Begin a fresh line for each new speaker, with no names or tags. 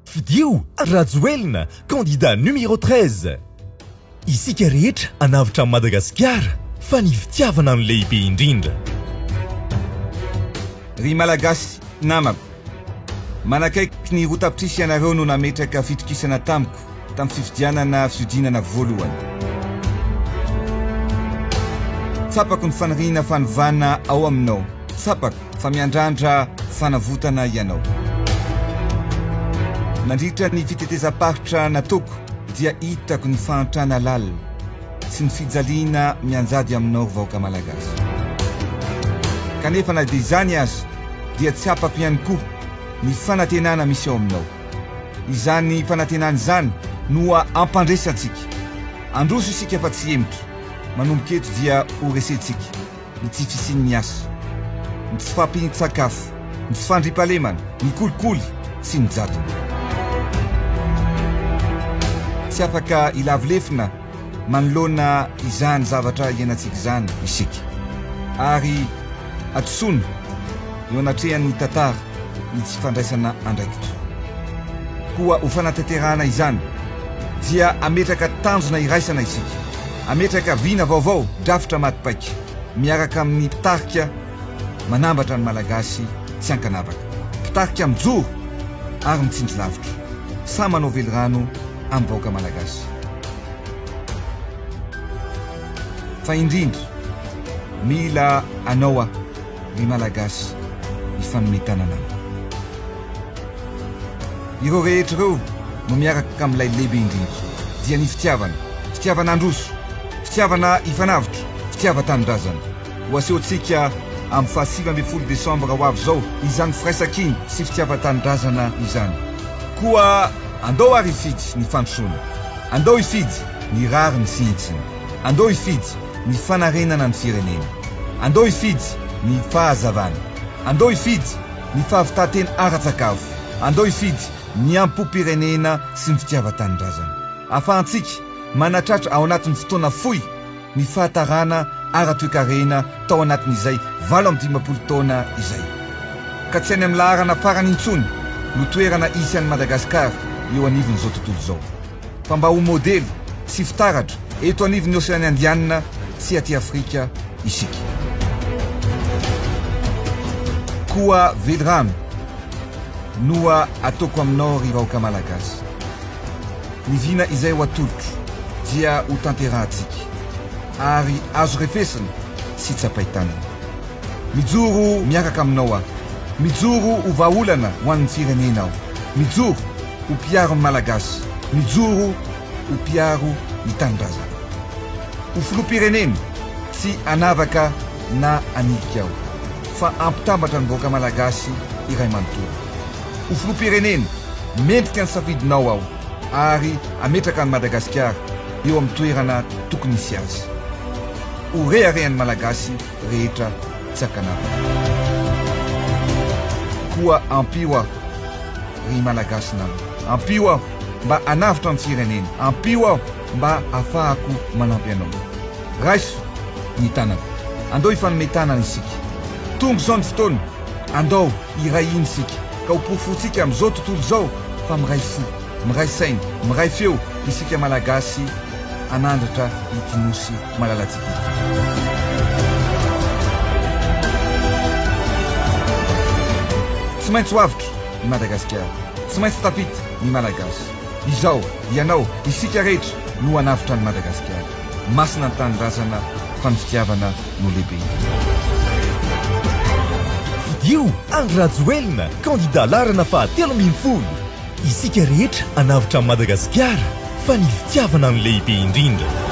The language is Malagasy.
Fidio Rajoelina candidat numéro treize. Isika rehetra hanavotra an'i Madagasikara fa ny fitiavana no lehibe indrindra.
Ry Malagasy namako. Manakaiky ny roa tapitrisa ianareo no nametraka fitokisana tamiko. tamin'ny fifidianana fihodinana voalohany. Tsapako ny faniriana fanovana ao aminao. Tsapako fa miandrandra fanavotana ianao. Nandritra ny fitetezam-paritra nataoko dia hitako ny fahantrana lalina sy ny fijaliana mianjady aminao ry vahoaka Malagasy. Kanefa na dia izany aza dia tsapako ihany koa ny fanantenana misy ao aminao. Izany fanantenana izany no ampandresantsika. Handroso isika fa tsy hemotra. Manomboka eto dia ho resentsika ny tsy fisian'ny asa, ny tsy fahampian-tsakafo, ny tsy fandriampahalemana, ny kolikoly sy ny jadona. Tsy afaka hilavo lefona manoloana izany zavatra iainantsika izany isika, ary hadisoana eo anatrehan'ny tantara ny tsy fandraisana andraikitra. Koa ho fanatanterahana izany, dia hametraka tanjona iraisana isika, hametraka vina vaovao, drafitra maty paika, miaraka amin'ny mpitarika manambatra ny Malagasy tsy ankanavaka, mpitarika mijoro ary mitsindry lavitra, sahy manao velirano, amin'ny vahoaka malagasy. Fa indrindra, mila anao aho, ry Malagasy, hifanome tanana amiko. Ireo rehetra ireo no miaraka amin'ilay lehibe indrindra, dia ny fitiavana, fitiavana handroso, fitiavana hifanavotra, fitiava-tanindrazana. Ho asehontsika amin'ny faha sivy ambin'ny folo desambra ho avy izao izany firaisankina sy fitiavan-tanindrazana izany. Koa andao àry hifidy ny fandrosoana. Andao hifidy ny rariny sy hitsiny. Andao hifidy ny fanarenana ny firenena. Andao hifidy ny fahazavana. Andao hifidy ny fahavitan-tena ara-tsakafo. Andao hifidy ny ampopirenena sy ny fitiavan-tanindrazana. Ahafahantsika manatratra ao anatin'ny fotoana fohy ny fahatarana ara-toekarena tao anatin'izay valo amby dimampolo taona izay, ka tsy any amin'ny laharana farany intsony no toerana hisy an'i Madagasikara eo anivon'izao tontolo izao, fa mba ho modely sy fitaratra eto anivon'ny Oseany Indianina sy aty Afrika isika. Koa velirano noa ataoko aminao ry vahoaka Malagasy. Ny vina izay ho atolotro dia ho tanterahantsika ary azo refesina sy tsapain-tanana. Mijoro miaraka aminao aho. Mijoro ho vahaolana ho an'ny firenena aho. Mijoro ho mpiaro ny Malagasy. Mijoro ho mpiaro ny tanindrazako. Ho filoham-pirenena tsy hanavaka na hanilika aho fa hampitambatra ny vahoaka Malagasy iray manontolo. Ho filoham-pirenena, mendrika ny safidinao aho ary hametraka an'i Madagasikara eo amin'ny toerana tokony hisy azy. Ho reharehan'ny Malagasy rehetra tsakanavina. Koa ampio aho, ry Malagasy namana. Ampio aho mba hanavotra ny firenena. Ampio aho mba hahafahako manampy anao. Raiso ny tanako. Andao hifanome tanana isika. Tonga izao ny fotoana. Andao hiray hina isika, ka ho porofontsika amin'izao tontolo izao fa miray fo, miray saina, miray feo isika Malagasy hanandratra ity Nosy malalantsika ity. Tsy maintsy ho avotro i Madagasikara, tsy maintsy tafita ny Malagasy. Izaho, ianao, isika rehetra no hanavotra an'i Madagasikara. Masina ny Tanindrazana fa ny fitiavana no lehibe.
Fidio Andry Rajoelina, kandida laharana fahatelo ambin'ny folo. Isika rehetra hanavotra an'i Madagasikara fa ny fitiavana no lehibe indrindra.